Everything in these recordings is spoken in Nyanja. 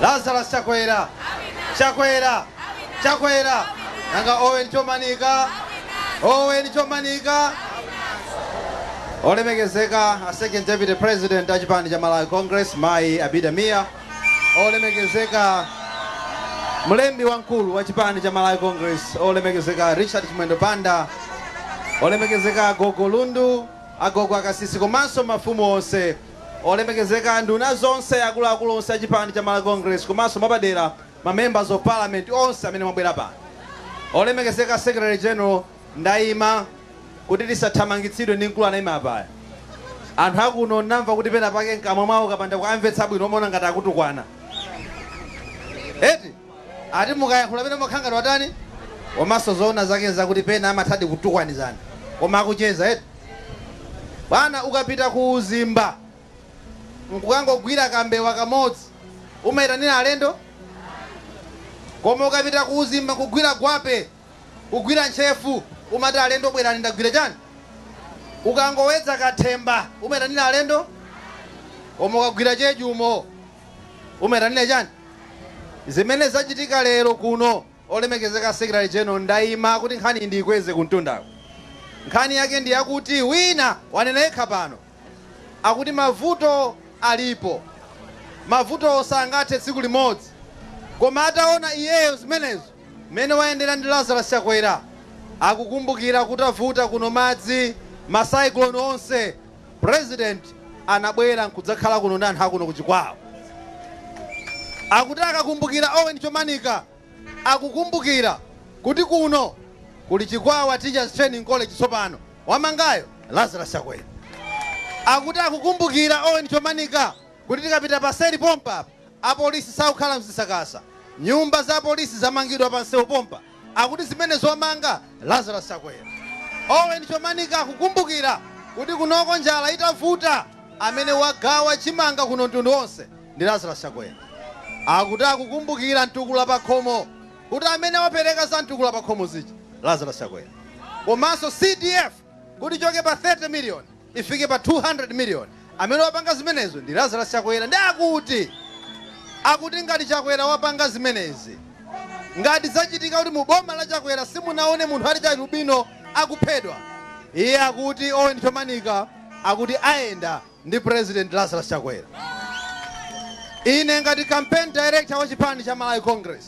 Lazarus Chakwera Chakwera Chakwera Nanga Owen Chomanika Owen Chomanika Olemekezeka a Second Deputy President a chipani cha Malawi Congress Mayi Abida Mia Olemekezeka Mlembi wamkulu wa chipani cha Malawi Congress Olemekezeka Richard Chimwendo Banda Olemekezeka Agogo Lundu Agogo Akasisi komanso mafumu onse Olemekezeka nduna zonse, akuluakulu onse a chipani cha Malawi Congress komanso mwapadera ma members of parliament onse amene mwabwera pano. Olemekezeka Secretary General ndaima kuti tisathamangitsidwe ndi mkulu anaima apaya. Anthu akuno namva kuti penapake mkamwa mwawo kapanda kuamvetsa bwino umaona ngati akutukwana eti. Ati mukayankhula pena mumakhala ngati watani? Komanso zoona zake zakuti pena amathadi kutukwanizana koma akucheza eti? Bwana ukapita ku uzimba nkukangogwira kambewa kamodzi umaitanira alendo? Koma ukapita ku uzimba nkugwira gwape, kugwira ntchefu umati alendo bwerani ndagwira chani? Ukangowedza kathemba umaitanira alendo? Koma ukagwira cheju umo? Umaitanira chani? Zimene zachitika lero kuno olemekezeka Secretary General ndaima kuti nkhaniyi ndiikweze kumtundako. Nkhani yake ndi yakuti wina wanena yekha pano akuti mavuto alipo, mavuto sangathe tsiku limodzi koma ataona iyeyo zimenezo mmene wayendera ndi Lazarus Chakwera akukumbukira kutavuta kuno madzi ma cyclone onse. President anabwera nkudzakhala kuno ndi anthu akuno ku Chikwawa. Akuti akakumbukira Owen Chomanika akukumbukira kuti kuno kuli Chikwawa Teachers Training College tsopano. Wamangayo Lazarus Chakwera. Akuti akukumbukira Owen Chomanika kuti tikapita paseri pompa apolisi sakukhala mzisakasa. Nyumba za apolisi zamangidwa pa msewu pompa. akuti zimenezo wamanga Lazarus Chakwera. Owen Chomanika akukumbukira kuti kunoko njala itavuta amene wagawa chimanga kuno mtundu onse ndi Lazarus Chakwera. Akuti akukumbukira mtukula pakhomo kuti amene wapereka za mtukula pakhomo zija Lazarus Chakwera. Komanso CDF Kuti ichoke pa 30 million ifike pa 200 million amene wapanga zimenezo ndi Lazarus Chakwera nde akuti akuti ngati Chakwera wapanga zimenezi ngati zachitika kuti mu boma la Chakwera simunaone munthu wachialubino akuphedwa iye akuti Owen Chomanika akuti ayenda ndi President Lazarus Chakwera ine ngati campaign director wa chipani cha Malawi Congress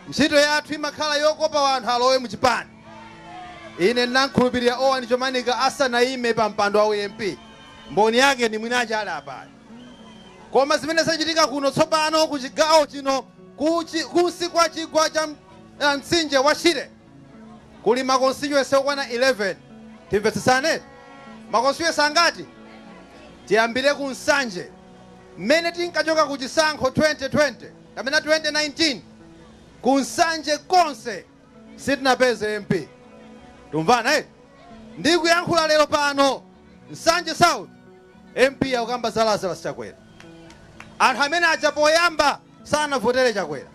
ntchito yathu imakhala yokopa wanthu alowe mu chipani Ine ndinamkhulupirira Owen Chomanika asanaime pa mpando wa u MP. Mboni yake ndi mwini ache ali apayo. Koma zimene zachitika kuno tsopano ku chigawo chino ku chi, kunsi kwa chigwa cha uh, mtsinje wa Shire kuli ma constituency okwana 11. Timvetsetsane? Ma constituency angati? Tiyambire ku Nsanje. Mmene tinkachoka ku chisankho 2020 kapena 2019 ku Nsanje konse Sitinapeze MP. Tumvana eh? Ndikuyankhula lero pano Nsanje South MP akukamba za Lazarus Chakwera. Anthu amene aja poyamba sanavotere Chakwera.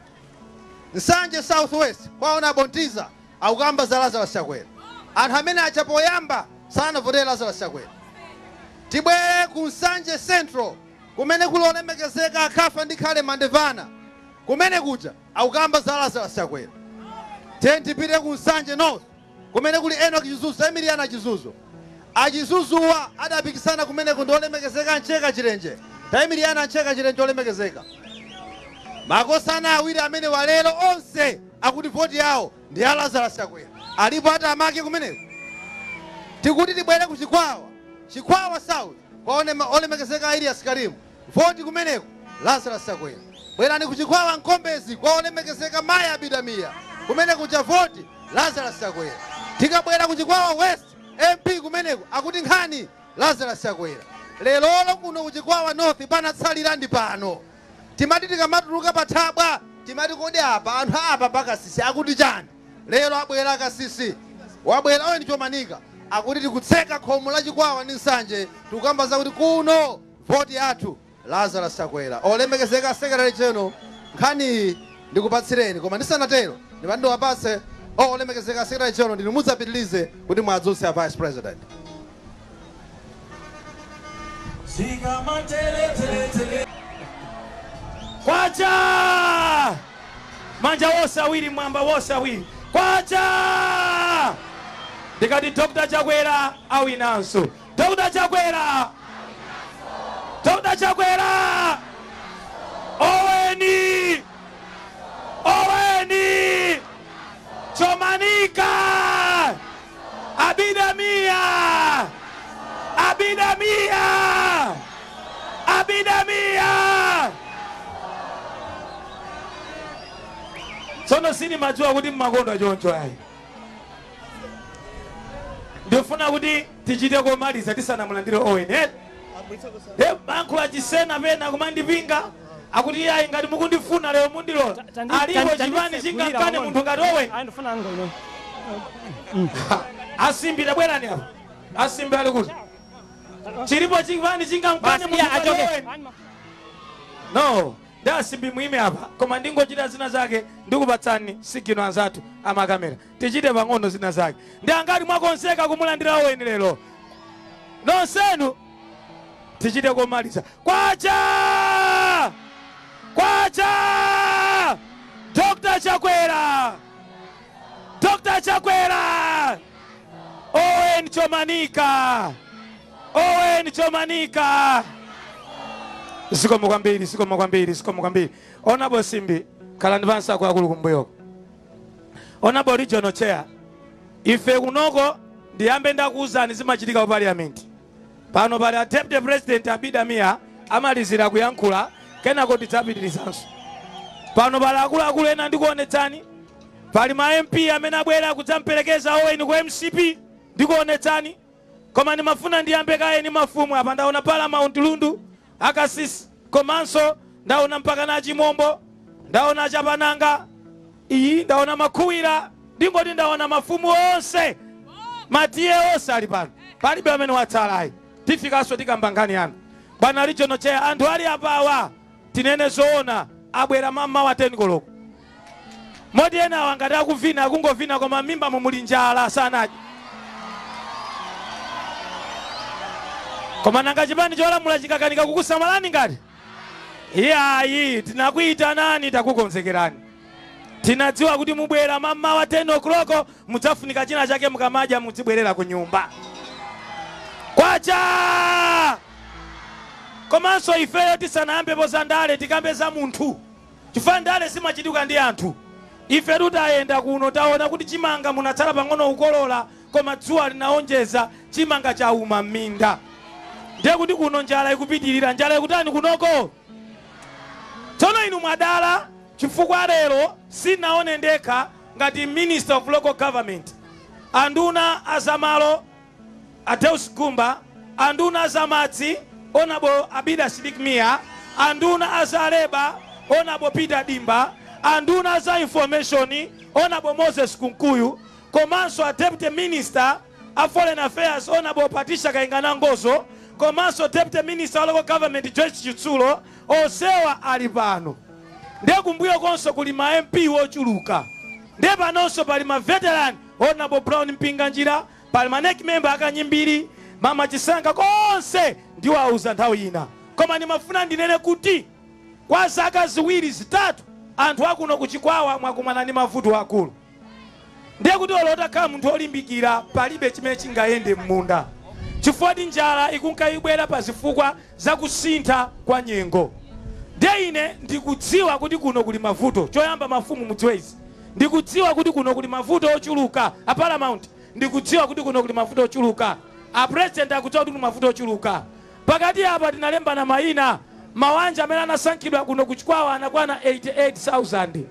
Nsanje South West kwa ona Botiza akukamba za Lazarus Chakwera. Anthu amene aja poyamba sanavotere Lazarus Chakwera. Tibwere ku Nsanje Central kumene kuli olemekezeka a Kafandikhale Mandevana. Kumene kuja Akukamba za Lazarus Chakwera. Tiyeni tipite ku Nsanje North kumene kuli Enock Chizuzu, imirirani a Chizuzu. A Chizuzuwa adapikisana kumeneko ndi olemekezeka a Mcheka Chilenje. Taimirirani a Mcheka Chilenje olemekezeka. Makosana awiri amenewa lero onse akuti voti yawo ndi ya Lazarus Chakwera. Alipo atamake kumeneko? Tikuti tibwere ku Chikwawa, Chikwawa South kwa ona- olemekezeka a Elias Karim. Vote kumeneko Lazarus Chakwera bwerani ku Chikwawa Nkombezi kwa olemekezeka Mayi Abida Mia kumene kuja vote Lazarus Chakwera. Tikabwera ku Chikwawa West MP kumeneko akuti nkhani Lazarus Chakwera. Lerolo kuno ku Chikwawa North panatsalira ndi pano. Timati tikamatuluka pa thabwa timati kodi apa anthu a apa pa Kasisi akuti chani? Lero abwera a Kasisi wabwera Owen Chomanika akuti tikutseka khomo la Chikwawa ndi Nsanje tikukamba zakuti kuno. Vote yathu Lazarus Chakwera. Olemekezeka Secretary General nkhaniyi ndikupatsireni koma ndisanatero ndimati ndiwapatse oh olemekezeka Secretary General ndinu mudzapitilize kuti muadzutse a Vice President. Zikamatele tele tele. Kwacha! Manja wose awiri mwamba wose awiri. Kwacha! Ndikati Dr. Chakwera awinanso. Dr Chakwera! Dr Chakwera! Oweni! Oweni! Chomanika! Abida Mia! Abida Mia! Abida Mia! Tsono sindimadziwa kuti mmakonda a choncho ayi. Ndifuna kuti tichite komaliza tisanamulandire Owen eti? Nde mayankhulo a Chisena pena kumandipinga akuti iyayi ngati mukundifuna lero mundilora alipo chipani chingamkane munthu ngati Owen a Simbi tabwerani apa a Simbi ali kuti chilipo chipani chingamkane munthu ngati Owen no ndi a Simbi muime apa koma ndingochita zina zake ndikupatsani sigino anzathu amakamera tichite pang'ono zina zake. Ndi angati mwakonzeka kumulandira Owen lero? Nonsenu tichite komaliza. Kwacha! Kwacha! Dr. Chakwera! Dr. Chakwera! Owen Chomanika! Owen Chomanika! Zikomo kwambiri, zikomo kwambiri, zikomo kwambiri. Honorable Simbi, khalani pansi akuluakulu kumbuyoko. Honorable Regional Chair, ife kunoko ndiyambe ndakuwuzani zimachitika ku parliament. Pano pali a Deputy President Abida Mia amalizire kuyankhula kenako tidzapitirizanso. Pano pali akuluakulu ena ndikuonetsani. Pali ma MP amene abwera kudzamperekeza Owen ku MCP ndikuonetsani. Koma ndimafuna ndiyambe kaye ndi mafumu apa ndaona Paramount Lundu, a Kasisi komanso ndaona mpakana a Chimombo, ndaona a Chapananga, iyi ndaona Makhuwira ndingoti ndaona mafumu onse ma TA onse ali pano palibe amene watsalayi tifikanso tikamba nkhani yanu bwana regional chair anthu ali apawa Tinene zoona abwera mammawa 10 koloko. Moti enawa ngati akuvina akungovina koma mmimbamo muli njala sanadye. Koma nanga chipani cholamula chingakanike kukusamalani ngati? Iyayi tinakuyitanani takukonzekerani. Tinadziwa kuti mubwera mammawa 10 o'clock mudzafunika china chake mukamadya mudzibwerera ku nyumba. Kwacha! Komanso ifeyo tisanayambepo za ndale tikambe za munthu chifukwa ndale zimachitika ndi anthu. Ifetu tayenda kuno taona kuti chimanga munatsala pang'ono kukolola koma dzuwa linaonjeza chimanga chauma m'minda ndiye kuti kuno njala ikupitilira. Njala ikutani kunoko? Tsono inu mwadala chifukwa lero sinaone ndekha ngati Minister of Local Government, anduna a za malo, A Deus Gumba, a nduna a za madzi, Hon. Abida Sidik Mia, a nduna a za leba, Hon. Peter Dimba, a nduna a za information, Hon. Moses Kunkuyu, komanso a Deputy Minister a Foreign Affairs, Hon. Patricia Kainga Nangozo, komanso Deputy Minister wa Local Government Joyce Chitsulo, onsewa ali pano. Ndiye kumbuyokonso kuli ma MP wochuluka. Ndiye panonso pali ma veteran, Hon. Brown Mpinganjira, Pali ma nec member akanyimbiri, mama chisanga konse ndiwauza nthawi ina koma ndimafuna ndinene kuti kwa zaka ziwiri zitatu anthu akuno ku chikwawa mwakumana ndi mavuto akulu ndiye kuti olo utakhala munthu olimbikira palibe chimene chingayende mmunda chifukwa ti njala ikunka ibwera pa zifukwa za kusintha kwa nyengo ndiye ine ndikudziwa kuti kuno kuli mavuto choyamba mafumu mudziwe izi Ndikudziwa kuti kuno kuli mavuto ochuluka. A Paramount, ndikudziwa kuti kuno kuli mavuto ochuluka. A President akudziwa kuti kuli mavuto ochuluka. Pakati apa tinalembana maina. Mawanja amene anasankhidwa kuno ku Chikwawa anakwana 88,000.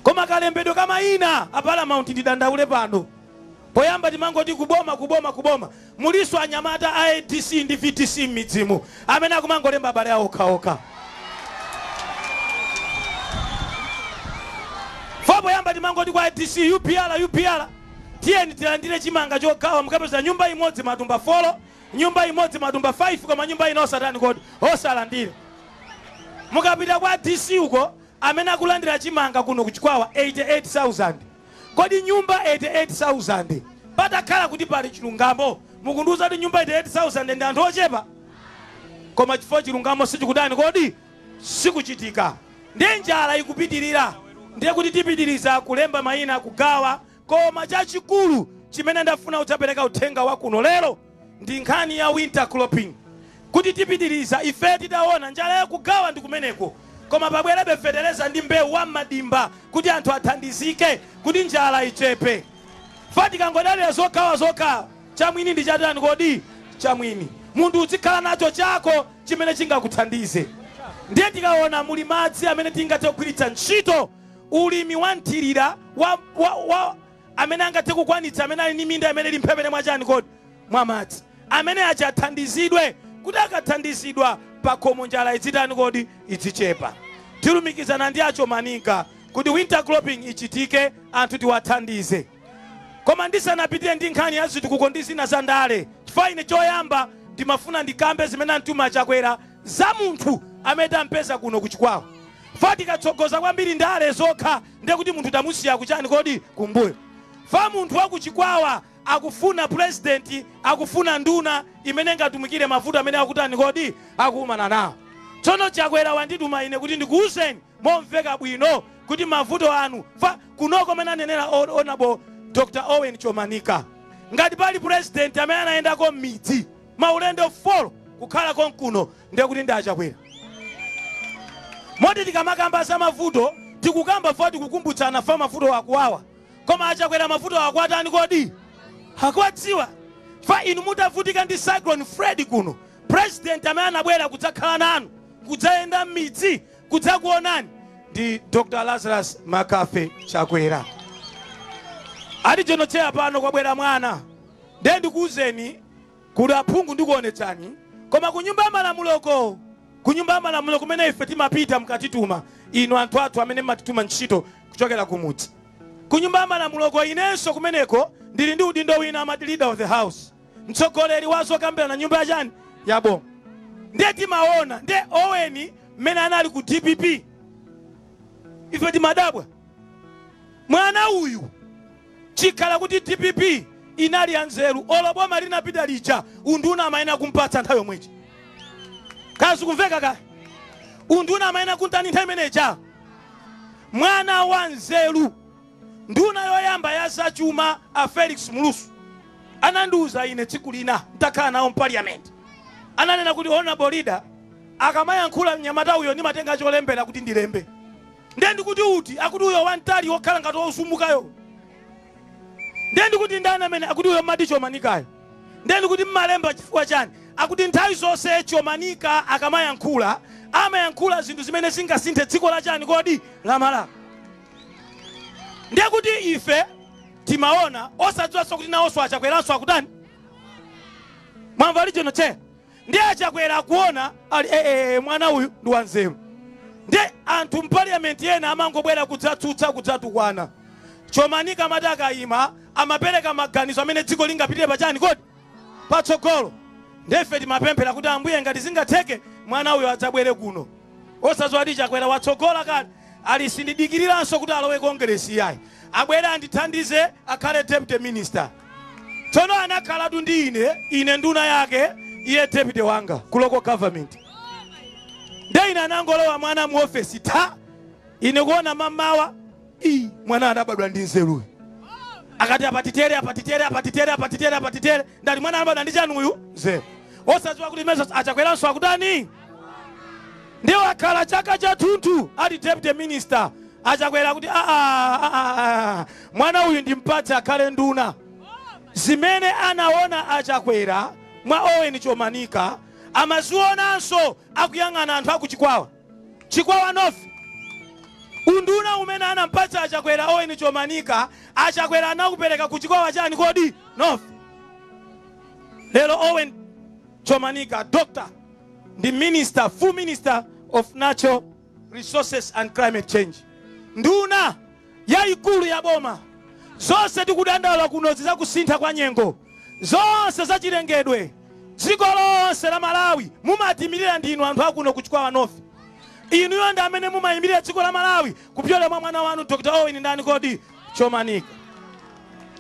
Koma kalembedwe ka maina, a Paramount, ndidandaule pano. Poyamba timangoti ku boma ku boma ku boma. Mulinso anyamata a adc ndi vdc mmidzimu amene akumangolemba abale awo okhaokha. 4 poyamba timangoti kwa dc upr upr tiyeni tilandire chimanga chogawa mukapeza nyumba imodzi matumba folo nyumba imodzi matumba 5 koma nyumba ino osatani kodi osalandira mukapita kwa dc uko amene akulandira chimanga kuno ku chikwawa 88000 Kodi nyumba 88,000 patakhala kuti pali chilungamo mukundiuza kuti nyumba 88,000 ndi anthu ochepa? Koma chifukwa chilungamo sichikutani kodi? Sikuchitika ndiye njala ikupitilira ndiye kuti tipitiliza kulemba maina kugawa koma chachikulu chimene ndafuna kudzapeleka uthenga wa kuno lero, ndi nkhani ya winter cropping kuti tipitiriza ife titaona njala yakugawa ndi kumeneko koma pabwerebe fetereza ndi mbewu wa m'madimba kuti anthu athandizike kuti njala ichepe fa tikangodalira zogawa zokha chamwini ndi chatani kodi chamwini munthu uzikhala nacho chako chimene chingakuthandize ndiye tikaona muli madzi amene tingathe kugwiritsa ntchito ulimi wa mthirira wa, wa, wa, amene angathe kukwanitsa, amene ali ndi minda imene ili mphepete mwa chani kodi mwa madzi, amene aja athandizidwe kuti akathandizidwa pakhomo njala idzitani kodi idzichepa. Tilumikizana ndi a Chomanika kuti winter cropping ichitike anthu tiwathandize. Koma ndisanapitire ndi nkhani ya zitukuko ndi zina za ndale, chifukwa ine choyamba ndimafuna ndikambe zimene antuma Chakwera za munthu amene tampeza kuno ku Chikwawa. Fa tikatsogoza kwambiri ndale zokha ndiye kuti munthu tamusiya kuchani kodi kumbuyo fa munthu wa kuchikwawa akufuna pulezidenti akufuna nduna imene ingatumikire mavuto amene akutani kodi akukumana nawo tsono chakwera wandituma ine kuti ndikuwuzeni momveka bwino kuti mavuto anu fa kunoko amene anenera honourable dr owen chomanika ngati pali pulezidenti amene anayendako m'midzi maulendo 4 kukhala konkuno ndiye kuti ndi achakwera moti tikamakamba za mavuto tikukamba foti kukumbutsana fa mavuto akuwawa koma achakwera mavuto akuwatani kodi akuwadziwa fa inu mutavutika ndi cyclone freddy kuno president amene anabwera kudzakhala nanu kudzayenda m'midzi kudzakuonani ndi dr lazarus mccarthy chakwera ali jonocheya pano kwabwera mwana ndiye ndikuwuzeni Kuti aphungu ndikuonetsani. Koma ku nyumba ya malamuloko, ku nyumba ya malamulo kumene ife timapita mukatituma, inu anthu athu amene mmatituma ntchito kuchokera kumudzi. Ku nyumba ya malamuloko inenso kumeneko ndili ndi udindo wina amati leader of the house, mtsogoleri wa zokambirana nyumba ya chani? Ya bo. Ndiye timaona, ndiye Oweni mmene anali ku dpp ife timadabwa mwana uyu. Chikhala kuti dpp inali ya nzeru olo boma linapita lija unduna amayenera kumpatsa nthawi yomwe ija. Ka zikumveka ka? Unduna amayenera kuntani nthawi imene ija? Mwana wa nzeru nduna yoyamba ya zachuma a Felix Mlusu anandiuza ine tsiku lina ntakhala nawo mpaliyamenti ananena kuti honorable leader akamayankhula mnyamata uyo ndimatenga cholembera kuti ndilembe Ndiye ndikuti uti? Akuti uyo wamtali wokhala ngati wosumukayo. Ndiye ndikuti ndani amene akuti uyo mmati chomanikayo? Ndiye ndikuti mmalemba chifukwa chani? Akuti nthawi zonse chomanika akamayankhula amayankhula zinthu zimene zingasinthe dziko la chani kodi la Malawi. Ndiye kuti ife timaona osadziwanso kuti nawonso achakweranso akutani mwamva ali jonoche Ndiye a Chakwera akuona ali eeh mwana uyu ndi wanzeru. Ndiye anthu m'paliyamenti ena amangobwera kudzatsutsa, kudzatukwana. Chomanika amati akayima amapereka maganizo amene dziko lingapitire pa chani kodi? Patsogolo. Ndiye ife timapemphera kuti Ambuye ngati zingatheke mwana uyu adzabwere kuno. Osadziwa kuti Chakwera watsogola kale ali sindidikiriranso kuti alowe Kongeresi iyayi. Abwere andithandize akhale Deputy Minister. tsono anakhalatu ndi ine ine nduna yake iye deputy wanga ku local government nde ine anangolowa mwana mu ofesi tha ine kuona mamawa ii mwana anabadwa ndi nzeru uyu akati apatitere apatitere apatitere apatitere apatitere ndali mwana anabadwa ndi chani uyu nzeru osadziwa kuti meso achakweranso akutani ndiye wakhala chaka chathunthu ali deputy minister achakwera akuti "Ah, ah, ah, ah, ah, mwana uyu ndimpatse akhale nduna zimene anaona achakwera mwa owen chomanika amazionanso akuyang'ana anthu akuchikwawa chikwawa north unduna umene anampatsa achakwera owen chomanika achakwera anakupereka ku chikwawa chani kodi north lero owen Chomanika, Dr ndi Minister, Full Minister of Natural Resources and Climate Change, nduna yaikulu ya boma. Zonse tikudandaula kuno izi za kusintha kwa nyengo, zonse za chilengedwe, dziko lonse la Malawi mumatiimilira ndi inu anthu akuno ku Chikwawa North. Inuyo ndi amene mumaimilira dziko la Malawi kupyola mwa mwana wanu Dr Owen ndani kodi? Chomanika.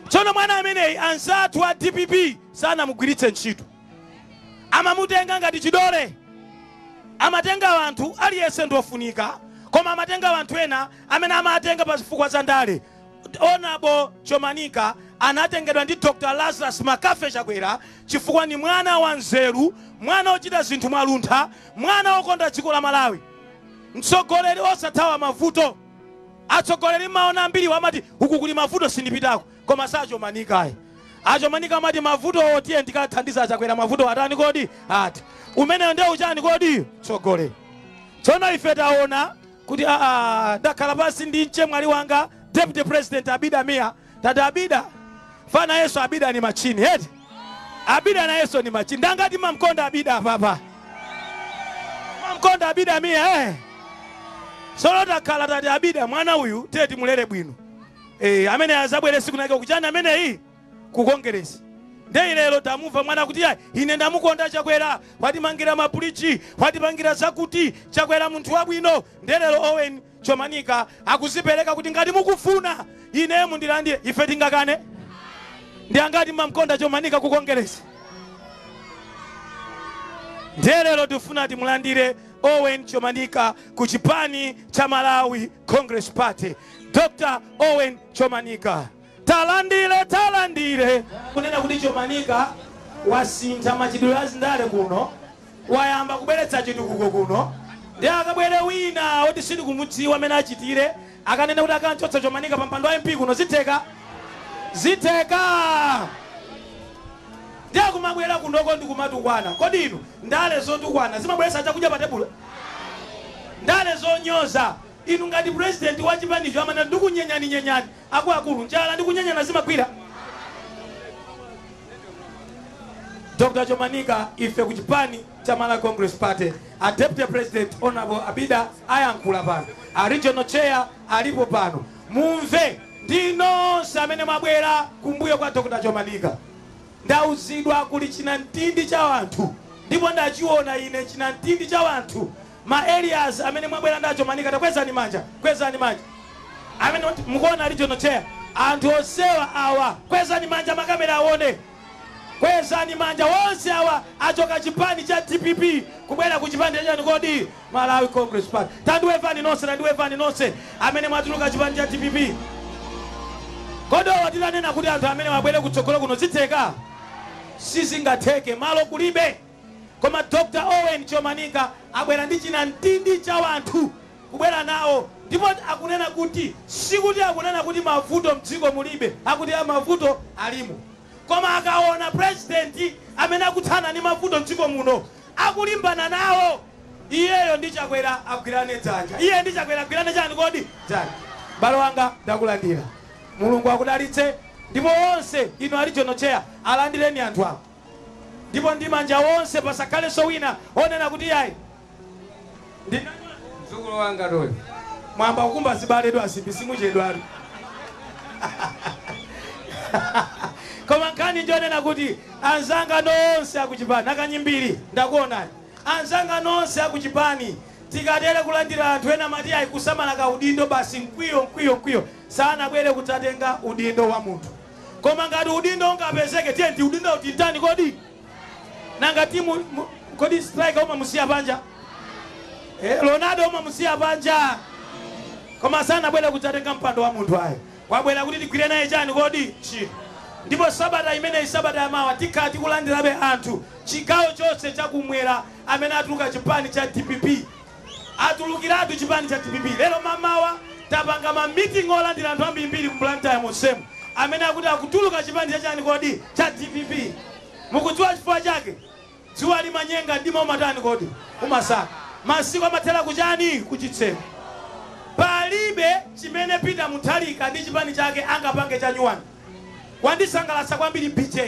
Tsono mwana ameneyi anzathu a dpp sanamugwiritse ntchito, amamutenga ngati chidole. Amatenga anthu, aliyense ndi ofunika, koma amatenga anthu ena amene amatenga pa zifukwa za ndale. Hon. Chomanika anatengedwa ndi Dr. Lazarus McCarthy Chakwera chifukwa ndi mwana wanzeru, mwana wochita zinthu mwaluntha, mwana wokonda dziko la Malawi, mtsogoleri osathawa mavuto. Atsogoleri mmaona ambiriwa amati uku kuli mavuto sindipitako koma si achomanika ayi. Achomanika amati mavutowo tiyeni tikathandize achakwera mavutowo atani kodi? Athe. Umenewo nde uchani kodi? Utsogoleri. Tsono ife taona kuti aa ndakhala pansi ndi mchemwali wanga Deputy President Abida Mia tati abida nayenso abida ni machini eti abida nayenso ni machini ndangati mamkonda abida apapa mamkonda abida miya eh. tsono takhala tati abida mwana uyu tiye timulere bwino eh, amene azabwere tsiku linake kuchani ameneyi kukongeresi nde lero tamumva mwana kuti ine ndamukonda chakwera watimangira mabuliji watipangira zakuti chakwera munthu wabwino ndelero owen Chomanika akuzipereka kuti ngati mukufuna ine mundilandire. Ife tingakane? Ndi angati mmamkonda Chomanika ku Kongeresi? Ndiye lero tifuna timulandire Owen Chomanika ku chipani cha Malawi Congress Party. Dr. Owen Chomanika. Talandireni talandireni. Kunena kuti Chomanika wasintha machitidwe a zindale kuno, wayamba kubweretsa chitukuko kuno, ndiye akabwere wina oti sitikumudziwa amene achitire akanena kuti akamchotsa Chomanika pa mpando wa MP kuno zitheka? Zitheka? Ndiye akumabwera kunoko ndi kumatukwana. Kodi inu ndale zotukwana zimabweretsa chakudya pa tebulo? Ndale zonyoza, inu ngati president wa chipanicho amanena ndikunyenyani nyenyani, Akuluakulu, njala ndi kunyenyana zimagwira? Dr Chomanika, Ife ku chipani cha Malawi Congress Party, a Deputy President Hon Abida ayankhula pano, a Regional Chair alipo pano, mumve ndi nonse amene mwabwera kumbuyo kwa Dr Chomanika. Ndauzidwa kuli chinamtindi cha wanthu ndipo ndachiona ine chinamtindi cha wanthu. Ma areas amene mwabwera ndi a Chomanika takwezani manja kwezani manja amene mukuona a regional chair anthu onsewa awa kwezani manja ma camera awone kwezani manja wonse awa achoka chipani cha dpp kubwera ku chipani chachani kodi Malawi congress party tandiwevani nonse tandiwevani nonse amene mwatuluka chipani cha dpp kodi awa titanena kuti anthu amene wabwere kutsogolo kuno zitheka sizingatheke malo kulibe Koma Dr Owen Chomanika abwera ndi chinamtindi cha wanthu kubwera nawo ndipo akunena kuti sikuti akunena kuti mavuto mdziko mulibe akuti a mavuto alimo koma akaona president amene akuthana ndi mavuto mdziko muno akulimbana nawo iyeyo ndi Chakwera agwirane dzanja iye ndi Chakwera agwirane chani kodi dzanja m'bale wanga ndakulandira Mulungu akudalitse ndipo onse inu a regional chair alandireni anthu awa. ndipo ndi manja onse pasakhalenso wina onena kuti yayi ndi mzukulu wanga toyo mwayamba kukumba zibale edu asimbi simuchedwatu koma nkhani njonena kuti anzanga nonse akuchipani akanyimbiri ndakuonani anzanga nonse akuchipani tikatere kulandira anthu ena mati ayi kusamala ka udindo basi mkwiyo mkwiyo mkwiyo sanabwere kudzatenga udindo wa munthu Koma ngati udindo ungapezeke tiyeni udindowu timtani kodi? Nanga timu kodi striker umamusiya panja? Eh, Ronaldo umamusiya panja? Koma sanabwere kudzatenga mpando wa munthu ayi. Wabwera kuti tigwire naye chani kodi? Ntchito. Ndipo sabata imeneyi sabata yamawa tikhala tikulandirabe anthu chigawo chonse chakumwera amene atuluka chipani cha DPP atulukiratu chipani cha dpp. Lero mamawa tapanga ma meeting olandira anthu ambirimbiri mu Blantyre monsemu amene akuti akutuluka chipani cha chani kodi? Cha dpp. Mukudziwa chifukwa chake? Dzuwa limanyenga mdima umatani kodi? Umasaka. Masiku amathera ku chani? Ku chitseko. Palibe chimene Peter Mutharika ndi chipani chake angapange chanyuwani. Wandisangalatsa kwambiri BJ.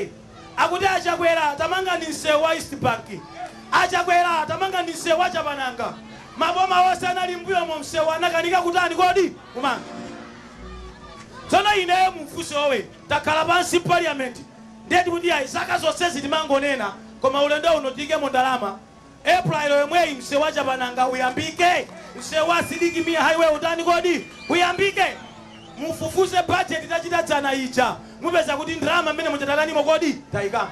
Akuti achakwera tamangani msewu wa east bank, achakwera tamangani msewu wa chapananga, maboma onse anali mbuyomu msewu anakanika kutani kodi? kumanga. Tsono ineyo mumfunse Owen takhala pansi mpaliyamenti nde tikuti ayi zaka zonsezi timangonena koma ulendo uno tiikemo ndalama April yomweyi msewu wa Chapananga uyambike? Msewu wa Sidiki Mia Highway utani kodi? Uyambike? Mufufuze budget tachita dzana ija mupeza kuti ndalama mmenemuja tatanimo kodi? Taikamo?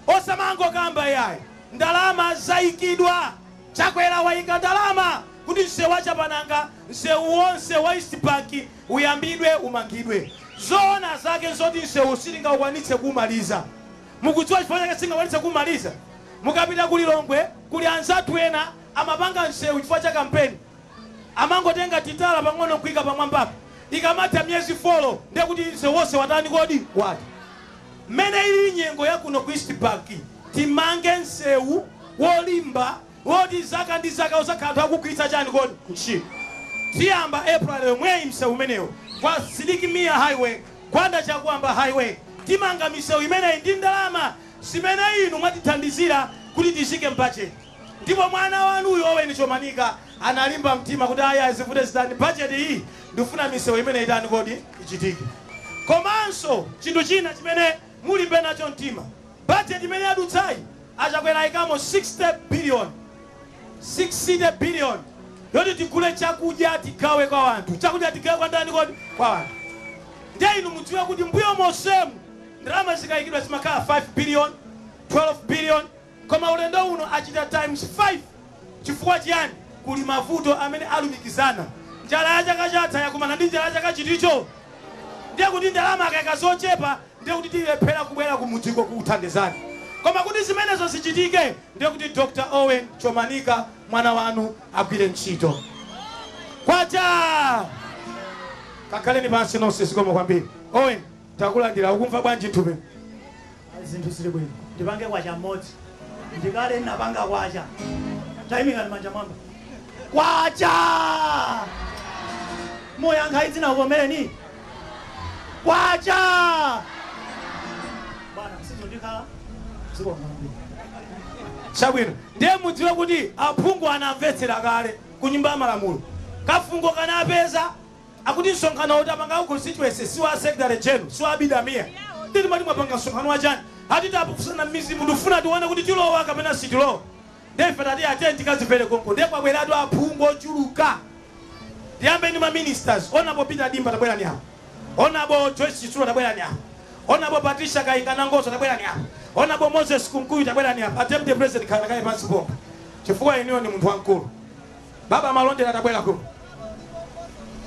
Osamangokamba yayi, ndalama zaikidwa. Chakwera waika ndalama kuti msewu wa Chapananga, msewu wonse wa East Bank uyambidwe, umangidwe. Zoona zake nzoti msewuwu sitingaukwanitse kuumaliza. Mukudziwa chifukwa chake sitingakwanitse kumaliza? Mukapita ku Lilongwe kuli anzathu ena amapanga msewu chifukwa cha kampeni. Amangotenga titala pang'ono nkuika pamwambapo. Ikamatha miyezi folo ndiye kuti msewu wonse watani kodi? Watha. Mmene ilili nyengo ya kuno ku East Bank, timange msewu wolimba Woti zaka ndi zaka uzakhale anthu akugwiritsa chani kodi ntchito? Tiyamba April yomweyi msewu umenewo kwa Sidik Mia highway, Gwanda Chakuamba highway timanga misewu imeneyi ndi ndalama zimene inu mwatithandizira kuti tiyike mbudget ndipo mwana wanu uyu Owen Chomanika analimba mtima kuti ayi ayi zivute zitani budget iyi ndifuna misewu imeneyi itani kodi ichitike. Komanso chinthu china chimene. Mulimbe nacho mtima. Budget imene yadutsayi a Chakwera aikamo 60 billion, 60 billion yoti tigule chakudya tigawe kwa wanthu. Chakudya tigawe kwa ndani kodi? Kwa wanthu. Ndiye inu mudziwe kuti mbuyo monsemu ndalama zikaikidwa zimakhala 5 billion, 12 billion, Koma ulendo uno achita times 5 chifukwa chiyani? Kuli mavuto amene alumikizana. Njala ya chaka chatha yakumana ndi njala ya chaka chiticho. Ndiye kuti ndalama akaika zochepa ndiye kuti tilephera kubwera kumudziko kukuthandizani. Koma kuti zimenezo zichitike ndiye kuti Dr. Owen Chomanika mwana wanu agwire ntchito. Kwacha! Kakhaleni pansi nonse zikomo kwambiri. Owen, takulandira. Ukumva bwanji nthupi? Ayi zinthu zili bwino ndipange kwacha mmodzi ndikale nnapanga kwacha taimikani manja mmwamba kwacha muyankha idzina kuvomereni kwacha bwana sizondikhala zikomo kwambiri chabwino ndiye mudziwe kuti aphungu anamvetsera kale ku nyumba ya malamulo kafungo kanapeza Akuti msonkhano uwu tapanga wa constituency si wa secretary general si wa Abida Mia ndiye timati mwapanga msonkhano wa chani? Ati tafunsana mmidzimu tikufuna tione kuti tilowa kapena sitilowa ndiye ife tati tiyeni tikadzipere konko ndiye kwabweratu aphungu ochuluka ndiyambe ndi ma ministers Hon. Peter Dimba tabwerani apa, Hon. Joyce Chitsulo tabwerani apa, Hon. Patricia Kainga Nangozo tabwerani apa, Hon. Moses Kunkuyu tabwerani apa, a deputy president khalani kaye pansi pompo chifukwa inuyo ndi munthu wamkulu. Baba Malondera tabwera kuno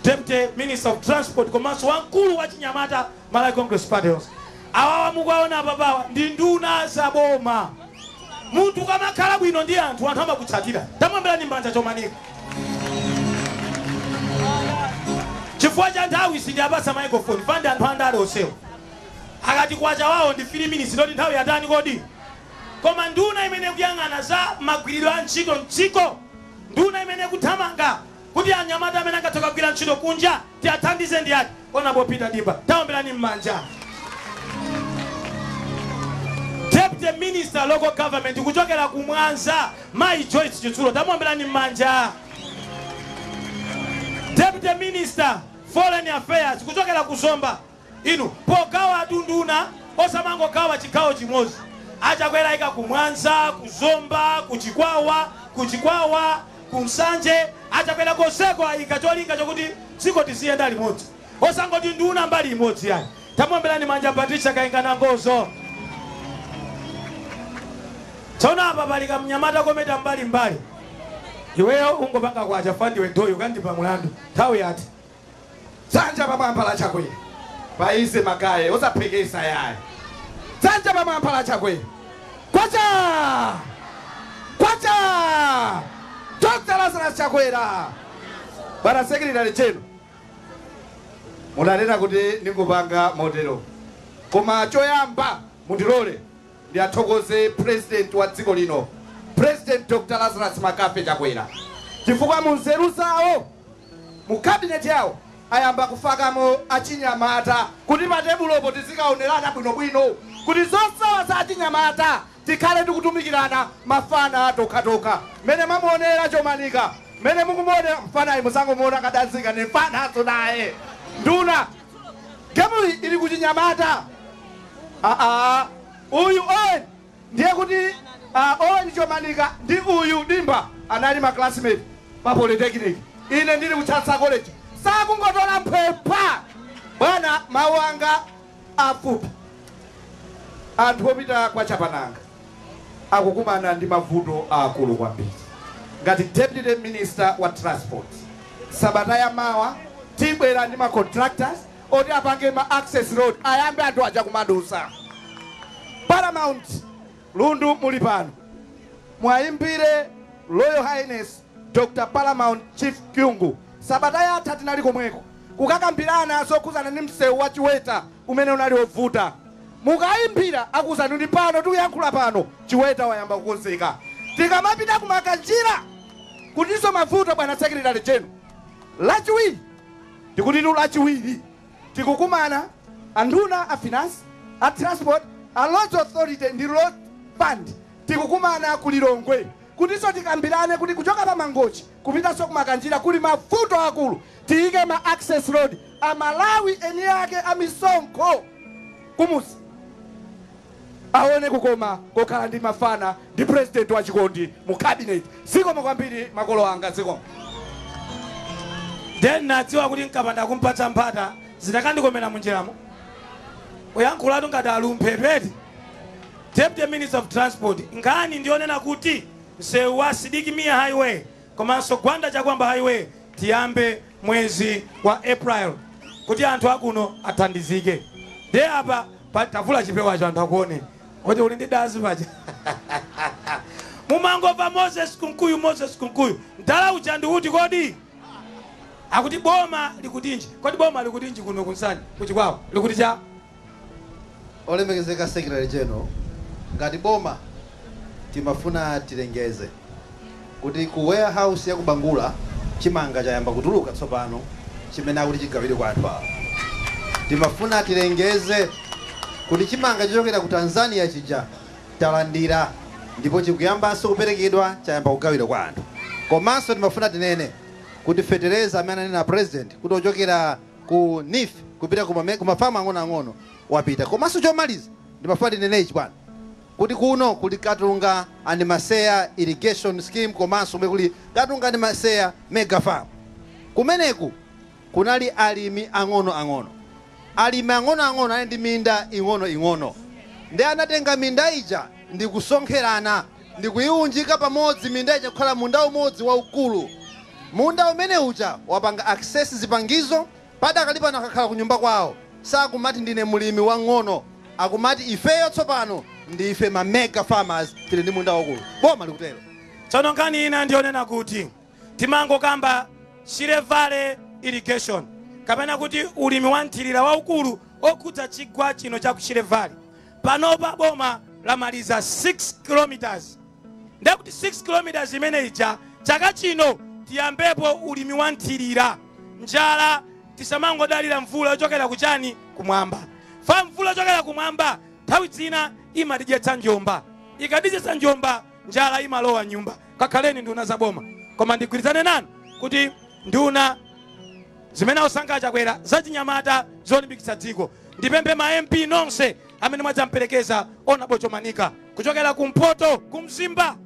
Deputy Minister of Transport komanso wamkulu wa chinyamata Malawi Congress Party yonse. Awawa mukuwaona apapawa ndi nduna za boma. Munthu ukamakhala bwino ndi anthu, anthu amakutsatira. Tamuombereni mmanja Chomanika. Chifukwa cha nthawi sindiwapatsa microphone paja anthu andale onsewa. Akati kwacha wawo ndi 3 minutes ndiye kuti nthawi yatani kodi? Koma nduna imene ikuyang'ana za magwiridwe a ntchito mdziko Nduna imene ikuthamanga kuti anyamata amene angathe kukagwira ntchito kunja tiathandize ndi ati? Hon. Peter Dimba. Taomberani mmanja. Deputy Minister, Local Government kuchokera ku Mwanza, Mayi Joyce Chitsulo. Tamuomberani mmanja. Deputy Minister, Foreign Affairs kuchokera ku Zomba, Inu pogawa atunduna osamangogawa chigawo chimozi a Chakwera ayika ku Mwanza ku Zomba ku Chikwawa ku Chikwawa ku Nsanje a Chakwera konseko ayika cholinga chokuti dziko tiziyenda limodzi osangoti nduna mbali imodzi yayi tamuomberani mmanja Patricia Kainga Nangozo tsono apa pali kamnyamata kometa mbali mbali iweyo ungopanga kwacha fandiwe doyo kandipha mulandu nthawi yati Dzanja pamwamba la Chakwera paize magaye osabhekesa yaye. Dzanja pamwamba la Chakwera. Kwacha! Kwacha! Dr. Lazarus Chakwera. Bwana Secretary General. Munanena kuti ndingopanga motero. Koma choyamba mundilole Ndiathokoze President wa dziko lino President Dr Lazarus McCarthy Chakwera chifukwa munzeru zawo mu cabinet yawo ayamba kufakamo achinyamata kuti pa tebulopo tizikaonerana bwinobwino kuti zosowa za achinyamata tikhale tikutumikirana mafana tokhatokha mmene mwamuonera Chomanika mmene mukumuonera mfanayu musangomuona kadazi kake ndi mfananso naye nduna Game ili kuchinyamata aah uyu Owen ndiye kuti ah Owen Chomanika ndi uyu Dimba anali ma classmate pa polytechnic ine ndili ku Chancellor College sakungotola mphwepwa bwana mawu anga afupi anthu opita kwa Chapananga akukumana ndi mavuto aakulu kwambiri. Ngati Deputy Minister wa Transport, sabata ya mawa tibwera ndi ma contractors oti apange ma access road ayambe anthu aja kumadusa. Paramount Lundu muli pano, muwayimbire Royal Highness Dr Paramount Chief Kyungu, Sabata yatha tinali komweko kukakambirana zokhuzana ndi msewu wa Chiweta umene unali ovuta. Mukaimbira akuuzani ndi pano tikuyankhula pano Chiweta wayamba kukonzeka. Tikamapita ku Makanjira kulinso mavuto bwana Secretary General. Lachiwiri ndikutitu lachiwiri tikukumana anduna a finance a transport a roads authority ndi road fund tikukumana ku Lilongwe Kutinso tikambirane kuti kuchoka pa Mangochi kupitanso ku Makanjira kuli mavuto akulu, tiyike ma access road a aMalawi eniake a misonkho kumudzi awone kukoma kokhala ndi mafana ndi president wa chikondi mu cabinet. Zikomo kwambiri makolo anga zikomo. Nde nnadziwa kuti nkapanda kumpatsa mpata zikanandikomela munjilamo. Kuyankhulatu ngati ali m'mphepeti. Deputy Minister of Transport, nkhani ndiyonena kuti msewu wa Sidiki Mia Highway komanso Gwanda Chakwamba Highway tiyambe mwezi wa April kuti anthu akuno athandizike. Ndiye apa pa- tavula chipewacho anthu akuone kuti uli ndi dazi paja mumangomva Moses Kunkuyu, Moses Kunkuyu mdala uja ndi uti kodi? akuti boma likutinji kodi boma likutinji kuno ku Nsanje ku Chikwawa likuti cha Olemekezeka Secretary General, ngati boma timafuna tilengeze kuti ku warehouse ya ku Bangula chimanga chayamba kutuluka tsopano chimene akuti chigawidwe kwa anthu awo. Timafuna tilengeze kuti chimanga chochokera ku Tanzania chija talandira ndipo chikuyambanso kuperekedwa chayamba kugawidwa kwa anthu. Komanso timafuna tinene kuti fetereza amene ananena a President kuti ochokera. ku neef kupita ku ma farm ang'onoang'ono wapita komanso chomaliza ndimafuna ndinene ichi bwana kuti kuno kuli katunga and maseya irrigation scheme komanso kumene kuli katunga and maseya mega farm kumeneku kunali alimi ang'onoang'ono alimi ang'onoang'ono anali ndi minda ing'onoing'ono nde anatenga minda ija ndikusonkherana ndi kuiunjika pamodzi minda ija kukhala munda umodzi waukulu. Munda umene uja wapanga access zipangizo padakali pano akakhala kunyumba kwawo sakumati ndine mlimi wang'ono akumati ifeyo tsopano ndife ma mega farmers tili ndi munda waukulu. Boma likutero. Tsono nkhani ina ndiyonena kuti timangokamba Shire Valley irrigation kapena kuti ulimi wa mthirira waukulu okhudza chigwa chino cha ku Shire Valley. Panopa boma lamaliza 6 km ndekuti 6 km imene ija chaka chino tiyambepo ulimi wa nthirira njala tisamangodalira mvula yochokera kuchani kumwamba fa mvula yochokera kumwamba nthawi zina imatidyetsa njomba ikatidyetsa njomba njala imalowa mnyumba kakhaleni nduna za boma koma ndigwirizane nanu kuti nduna zimene wasankha a Chakwera zachinyamata zolimbikitsa dziko ndipemphe ma mp nonse amene mwadzamperekeza Honourable Chomanika kuchokera kumpoto kumzimba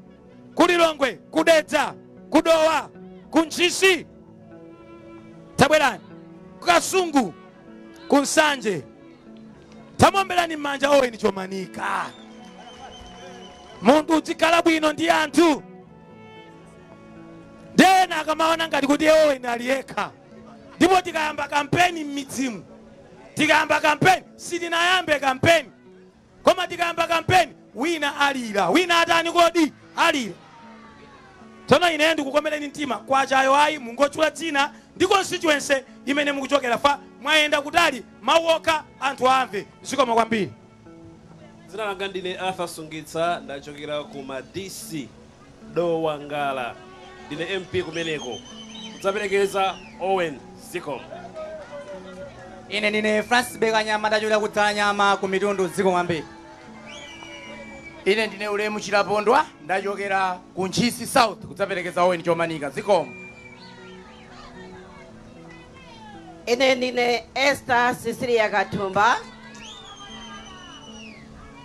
kulilongwe kudedza kudowa kuntchisi tabwerani kukasungu ku Nsanje. Tamuomberani m'manja Owen Chomanika. Munthu udzikhala bwino ndi anthu ndi ena akamaona ngati kuti Owen ali yekha, ndipo tikayamba kampeni m'midzimu, tikayamba kampeni sitinayambe kampeni Koma tikayamba kampeni wina alira wina atani kodi alira tsono ine ndikukomereni mtima kwachayo ayi, mungotchula dzina ndi constituency imene mukuchokera popeza mwayenda kutali mawu okha anthu amve zikomo kwambiri Dzina langa ndine Arthur Sungitsa ndachokera ku Madisi Dowa Ngala ndine MP kumeneko kudzaperekeza Owen zikomo. Ine ndine Francis Belekanyama ndachokera ku Dzalanyama ku Mitundu zikomo kwambiri. Ine ndine Ulemu Chilapondwa ndachokera ku Ntchisi South kudzaperekeza Owen Chomanika zikomo. Ine ndine Esther Cecilia Kathumba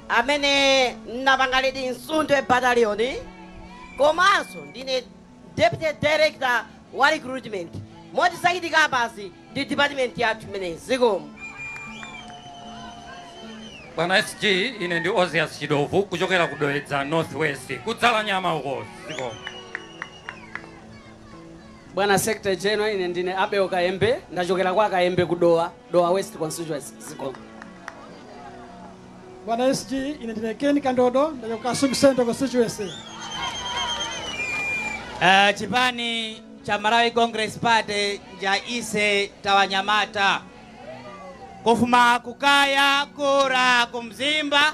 amene n'napangadi Msundwe Battalion komanso ndine Deputy Director wa Recruitment moti zachitika apazi ndi department yathu imeneyi. Zikomo. Bwana SG, ine ndi Ozias Chidovu kuchokera ku Dedza Northwest ku Dzalanyama uko zikomo. Bwana Secretary General, ine ndine Abel Kayembe ndachokera kwa Kayembe ku Dowa. Dowa West Constituency zikomo. Bwana SG ine ndine Ken Kandodo ndachoka Kasuku Central Constituency. Uh, chipani cha Malawi Congress Party nja ise tawanyamata kufuma kukaya kura kumzimba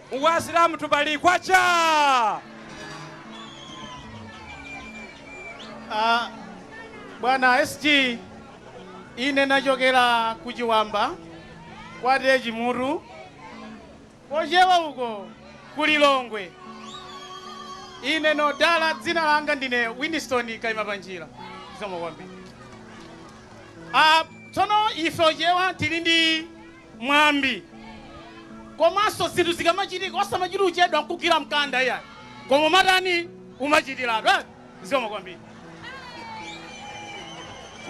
Uku asilamu tubali kwachaa! A bwana SG ine nachokera ku Chiwamba kwa TA Chimutu kochewa uko ku Lilongwe. Ine nodala dzina langa ndine Winston Kaimapanjira zikomo kwambiri. A tsono ife ochewa tili ndi mwambi komanso zinthu zikamachitika osamachita kuchedwa nkugwira mkanda iyayi koma umatani umachitiratu eh? zikomo kwambiri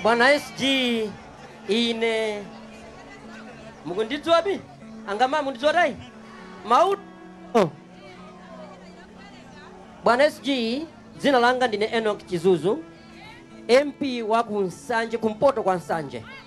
bwana sg ine mukundidziwa abiyanga ma mukundidziwa tayi mau oh. bwana sg dzina langa ndine enok chizuzu mp wa ku nsanje kumpoto kwa nsanje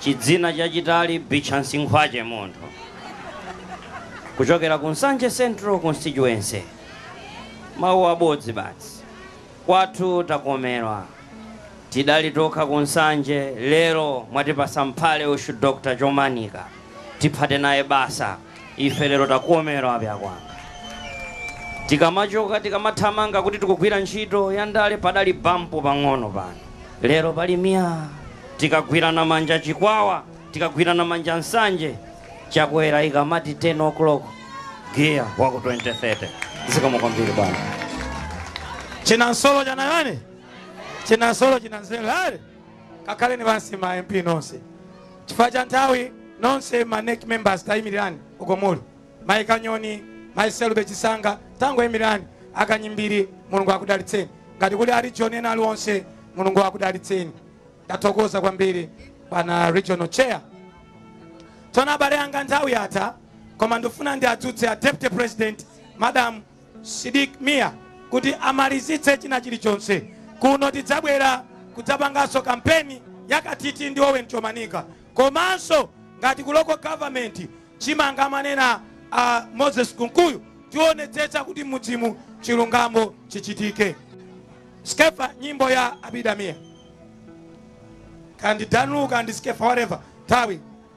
Chidzina chachitali Bichansi Nkhwache munthu kuchokera ku Nsanje Central Constituency. Mawu abodzi basi. Kwathu takomerwa. Tidali tokha ku Nsanje lero mwatipasa mphale uxu Dr. Chomanika. Tiphate naye basa. Ife lero takomerwa pyakwana. Tikamachoka tikamathamanga kuti tikugwira ntchito ya ndale padali bampu pang'ono pano lero pali myaa. Tikagwirana manja chikwawa, tikagwirana manja nsanje. Chakwera ikamati 10 o'clock giya wa ku 2030. Zikomo kwambiri bwana. Chinansolo chinachani? Chinansolo chinanzele ale? kakhaleni pansi ma mp nonse chifukwa cha nthawi nonse ma NEC members tayimirirani uko muli mayi kanyoni mayi selube chisanga tangoyimirani akanyimbiri mulungu akudalitseni ngati kuli a region ena aliwonse mulungu akudalitseni ndathokoza kwambiri pana regional chair tsono abale anga nthawi yatha koma ndifuna ndiadzutse a deputy president madam Sidik Mia kuti amalizitse china chilichonse. Kuno tidzabwera kudzapanganso kampeni yakathithi ndi Owen Chomanika komanso ngati ku local government chimene amanena a Moses Kunkuyu tionetsetsa kuti mudzimu chilungamo chichitike. Skefa nyimbo ya Abida Mia kandi Dan Lu kandi Skefa whatever thawi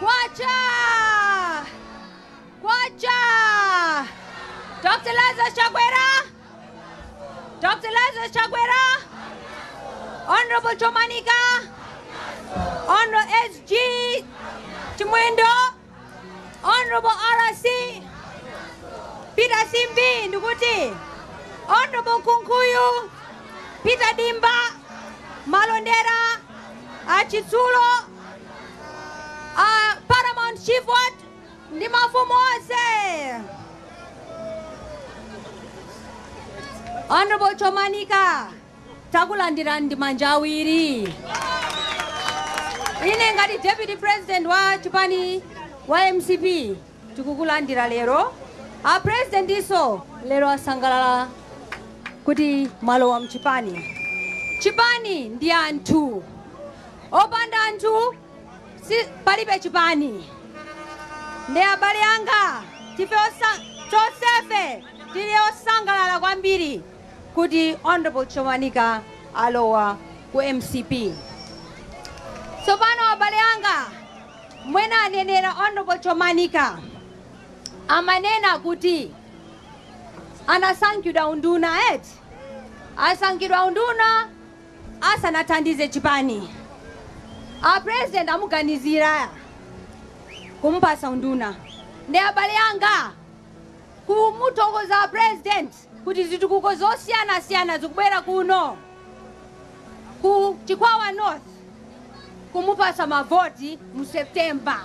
Kwacha! Kwacha! Dr. Lazarus Chakwera! Dr. Lazarus Chakwera! Honorable Chomanika! Honorable SG Chimwendo! Honorable RC! Peter Simbi ndikuti Honorable Kunkuyu! Peter Dimba! Malondera! Achitsulo! uh, paramount chief what ndi mafumu onse honorable chomanika takulandirani ndi manja awiri ine ngati deputy president wa chipani wa mcp Tikukulandira lero a president nso lero asangalala kuti mwalowa mchipani. Chipani ndi anthu, opanda anthu si, palibe chipani. Ndi abale anga tife osa, tonsefe tili osangalala kwambiri kuti Honorable Chomanika alowa ku mcp. Tsopano abale anga Mmene anenera Honorable Chomanika amanena kuti anasankhidwa unduna eti? Asankhidwa unduna asanathandize chipani? A president amuganizira kumupatsa unduna? Nde abale anga kumuthokoza a president? kuti zitukuko zosiyanasiyana zikubwera kuno ku Chikwawa North kumupasa mavoti mu September.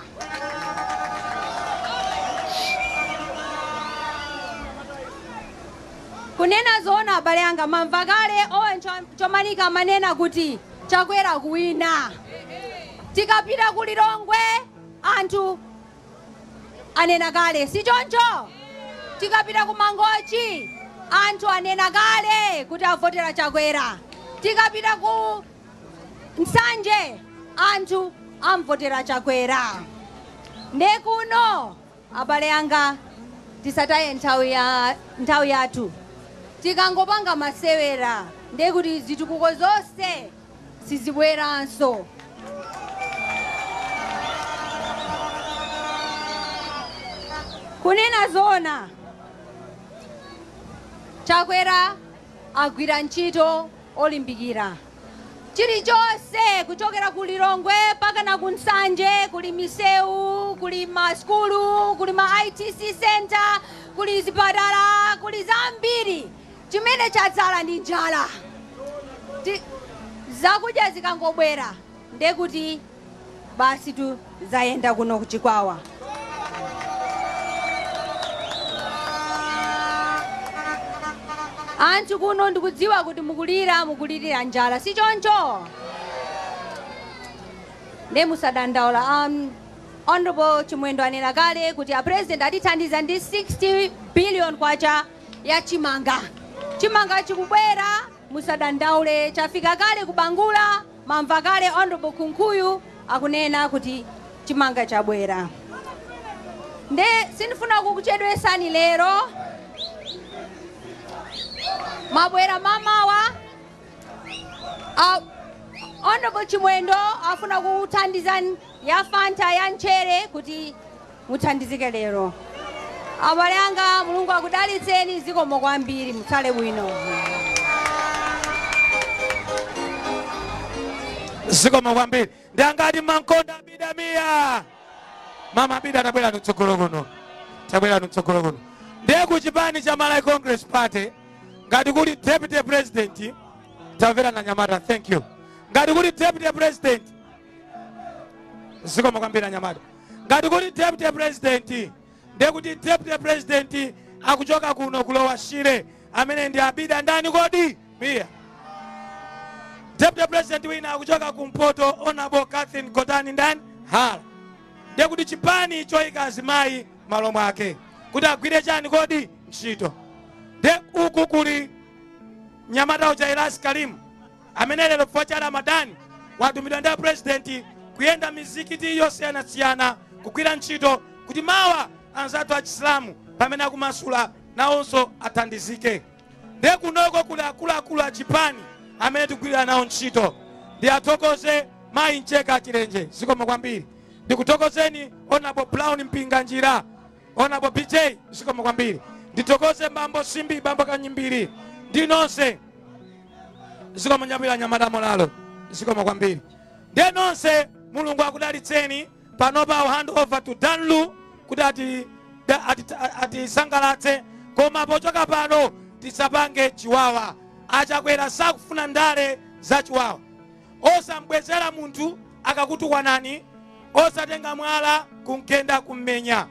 kunena zoona abale anga mwamva kale owen chomanika amanena kuti chakwera kuwina tikapita ku lilongwe anthu anena kale sichoncho? Tikapita ku Mangochi anthu anena kale kuti avotera Chakwera. Tikapita ku Nsanje anthu amvotera Chakwera. Nde kuno abale anga tisataye nthawi yathu. Tikangopanga masewera nde kuti zitukuko zonse sizibweranso. Kunena zoona, Chakwera agwira ntchito olimbikira. Chilichonse kuchokera ku Lilongwe mpaka na ku Nsanje kuli misewu, kuli masukulu, kuli ma ITC center, kuli zipatala, kuli zambiri. chimene chatsala ndi njala zakudya zikangobwera nde kuti basitu zayenda kuno ku chikwawa anthu kuno ndikudziwa kuti mukulira mukulirira njala si choncho nde musadandaule um, honorable chimwendo anena kale kuti a president atithandiza ndi 60 billion kwacha ya chimanga. Chimanga chikubwera musadandaule chafika kale ku Bangula mwamva kale Honorable Kunkuyu akunena kuti chimanga chabwera. Nde sindifuna kukuchedwesani lero mwabwera mamawa uh, Honorable Chimwendo afuna akuthandizeni ya Fanta ya nchere kuti Muthandizike lero abale anga mulungu akudalitseni zikomo kwambiri mutsale bwino. zikomo kwambiri ndi angati mumankonda abida mia mama abida tabwerani mtsogolo kuno tabwerani mtsogolo kuno ndiye ku chipani cha malawi congress party ngati kuli deputy president tamverani anyamata thank you ngati kuli deputy president zikomo kwambiri anyamata ngati kuli deputy president ndiye kuti deputy president akuchoka kuno ku lower shire amene ndi abida ndani kodi mia deputy president wina akuchoka kumpoto honorable catherine gotani ndani hara ndiye kuti chipani choyika azimayi malo mwake kuti agwire chani kodi ntchito nde uku kuli mnyamata uja ilyas karim amene lero chifukwa cha Ramadan watumidwa ndi a President kuyenda mizikiti yosiyanasiyana kugwira ntchito kuti mawa anzathu a Chisilamu pamene akumasula nawonso athandizike. Nde kunoko kuli akuluakulu a chipani amene tikugwirira nawo ntchito. Ndiwathokoze mayi Mcheka Chilenje zikomo kwambiri. Ndikuthokozeni Honorable Brown Mpinganjira Honorable BJ zikomo kwambiri ndithokoze bambo simbi bambo kanyimbiri ndi nonse zikomo nyabwira nyamata molalo zikomo kwambiri ndiye nonse mulungu akudalitseni panopa I'll hand over to Dan Lu kuti ati- da- ati- atisangalatse koma pochoka pano tisapange chiwawa achakwera sakufuna ndale za chiwawa osambwezera munthu akakutukwanani osatenga mwala kumgenda kummenya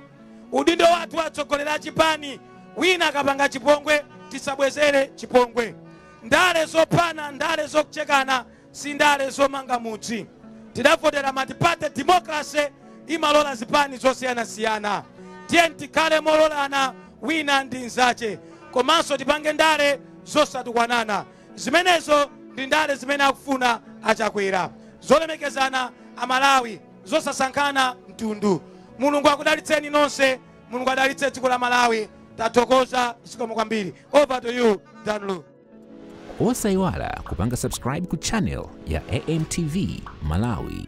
udindo wathu atsogoleri a chipani wina akapanga chipongwe tisabwezere chipongwe ndale zophana ndale zokuchekana si ndale zomanga mudzi tidavotera matipate democracy imalola zipani zosiyanasiyana tiyeni tikhale mololana wina ndi nzache komanso tipange ndale zosatukwanana Zimenezo ndi ndale zimene akufuna a Chakwera. Zolemekezana a Malawi, zosasankhana mtundu. Mulungu akudalitseni nonse, Mulungu adalitse dziko la Malawi. Tathokoza, zikomo kwambiri. Over to you, Dan Lu. Osaiwala kupanga subscribe ku channel ya AMTV Malawi.